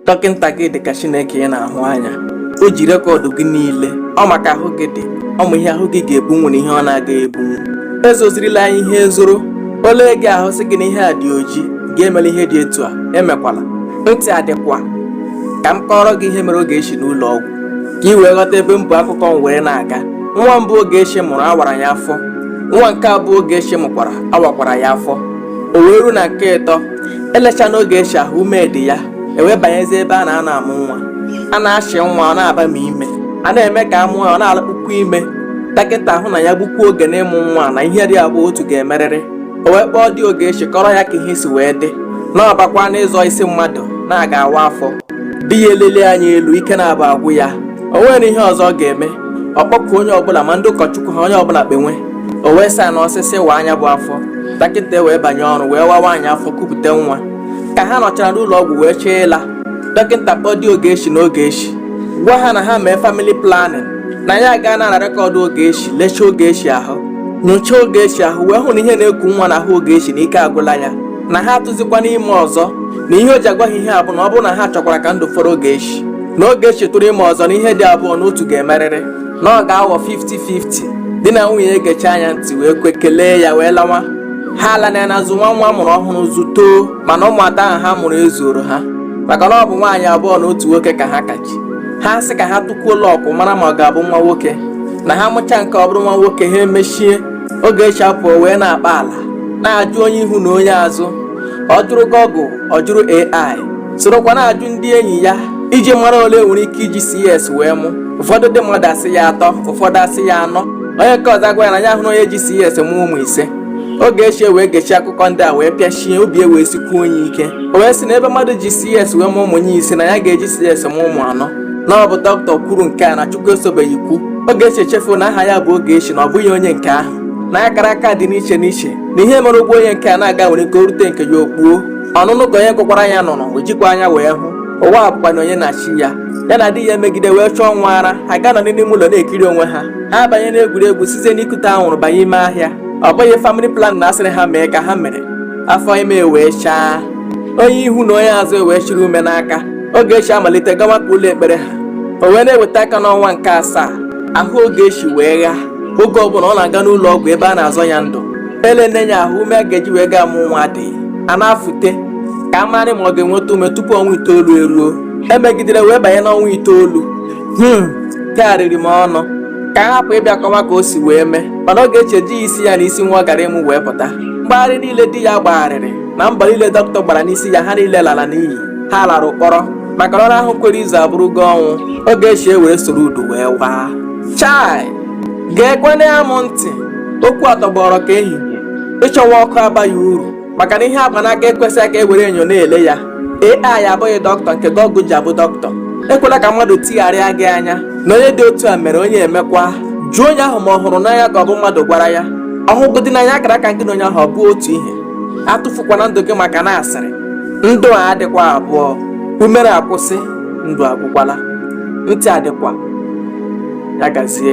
dọkịnta gị dị ka chineke ị na-ahụ anya o ji rekọdụ gị niile ọ ma ka ahụ gị dị ọ ma ihe ahụ gị ga-ebunwu na ihe ọ na-agaghị ebunwu ezozirila nya ihe zoro o lee gị ahụ sị gị na ihe a dị oji gị emela ihe dị etu a emekwala ntị adịkwa ka m kọọrọ gị ihe mere Ogechi n'ụlọ ọgwụ ka ị wee ghọta ebe m bu akụkọ m were na-aga nwa mbụ Ogechi mụrụ a wara ya afọ nwa nke abụọ Ogechi mụkwara a wakwara ya afọ o wee ruo na nke ịtọ e lechaa na Ogechi ahụ ume dị ya e wee banyezie ebe a na-anọ amụ nwa a na-achị nwa ọ na-abami ime a na-eme ka a mụọ ya ọ na-alakpukwa ime dọkịta ahụ na ya gbukwuo oge n'ịmụ nwa na ihe dị abụọ otu ga-emerịrị o wee kpọọ di Ogechi kọrọ ya ka ihe si wee dị na ọ bakwaa n'ịzọ isi mmadụ na a ga-awa afọ di ya elele anya elu ike na-aba agwụ ya o nwere ihe ọzọ ọ ga-eme ọ kpọkuo onye ọbụla ma ndị ụkọchukwu ha onye ọbụla kpenwe o wee saịnụọ sị sị waa nya bụ afọ dọkịta wee banye ọrụ wee waa nwaanyị afọ kupụta nwa ka ha nọchara n'ụlọ ọgwụ wee chọọ ịla dọkịta kpọọ di Ogechi na Ogechi gwa ha na ha mee famili planin na ya aga na rekọdụ Ogechi lechaa Ogechi ahụ nyochaa Ogechi ahụ wee hụ na ihe na-eku nwa na ahụ Ogechi na ike agwụla ya na ha atụzikwana ime ọzọ na ihe o ji agwa ha ihe a bụ na ọ bụrụ na ha chọkwara ka ndụ fọrọ Ogechi na Ogechi tụrụ ime ọzọ na ihe dị abụọ na otu ga-emerịrị na ọ ga-aghọ 50-50 di na nwunye egechaa nya ntị wee kwe kelee ya wee lawa ha ala na ya na-azụ nwa ha mụrụ ọhụrụ zụtoo mana ụmụ atọ ahụ ha mụrụ ezuoro ha maka na ọ bụ nwaanyị abụọ na otu nwoke ka ha ka chị ha sị ka ha tụkwuo lọkụ mara ma ọ ga-abụ nwa nwoke na ha mụcha nke ọ bụrụ nwa nwoke ha emechie Ogechi apụọ wee na-akpa ala na-ajụ onye ihu na onye azụ ọ jụrụ gọgụl ọ jụrụ AI sorokwa na-ajụ ndị enyi ya iji mara ole e nwere ike iji CS wee mụ ụfọdụ ndị mmadụ asị ya atọ ụfọdụ asị ya anọ onye nke ọzọ agwa ya na ya hụrụ onye ji CS mụ ụmụ ise Ogechi e wee gechaa akụkọ ndị a wee pịachie obi e wee sikwuo nya ike o wee sị na ebe mmadụ ji CS wee mụ ụmụ nya ise na ya ga-eji CS mụ ụmụ anọ na ọ bụ dọkịta kwuru nke a na Chukwu esobeghị kwuo Ogechi echefuo na aha ya bụ Ogechi na ọ bụghị onye nke ahụ na akara aka dị n'iche n'iche na ihe mere ụgbọ onye nke a na-aga nwere ike o rute nke ya o kpuo ọnụnụ ka onye gụkwara ya nụrụ e jikwa anya wee hụ ụwa abụkwana onye na chi ya ya na di ya emegide wee chọọ nwa ara ha ga-anọdị n'ime ụlọ na-ekiri onwe ha ha abanye n'egwuregwu site n'ikute anwụrụ banye ime ahịa ọ bụghị famili planin a sịrị ha mee ka ha mere afọ ime wee chaa onye ihu na onye azụ e wee chịrị ume n'aka Ogechi amalite gawakwa ụlọ ekpere ha o wee na-eweta aka n'ọnwa nke asaa ahụ Ogechi wee ghaa oge ọbụla ọ na-aga n'ụlọ ọgwụ ebe a na-azọ ya ndụ ele nne ya ahụ ume a ga-eji wee gaa mụ nwa adịghị a na-afụte ka a marị ma ọ ga-enweta ume tupu ọnwa itoolu eruo e megidere wee banye n'ọnwa itoolu hmm tegharịrị m ọnụ ka a hapụ ịbịa kọwa ka o si wee mee mana Ogechi ejighi isi ya na isi nwa ọ gara ịmụ wee pụta mgbagharị niile di ya gbagharịrị na mbọ niile dọkịta gbara n'isi ya ha niile lara n'iyi ha lara ụkpọrọ maka na ụra ahụ kwere izu abụrụgo ọnwụ Ogechi ewere soro udu wee waa chai Geekwanụ m ntị, okwu a tọgbọrọ ka ehihie. Ịchọwa ọkụ abaghị uru maka na ihe a gba n'aka ekwesịghị ka e were enyo na-ele ya. AI abụghị dọkịta nke Google ji abụ dọkịta. Ekwela ka mmadụ tigharịa gị anya na onye dị otu a mere onye emekwa. Jụọ onye ahụ ma ọ hụrụ n'anya ka ọ bụ mmadụ gwara ya. Ọ hụgodị n'anya akara aka gị na onye ahụ ọ bụ otu ihe. Atụfukwana ndụ gị maka na asịrị. Ndụ a adịkwa abụọ. Umere akwụsị, ndụ agwụkwala. Ntị adịkwa. Ya gazie.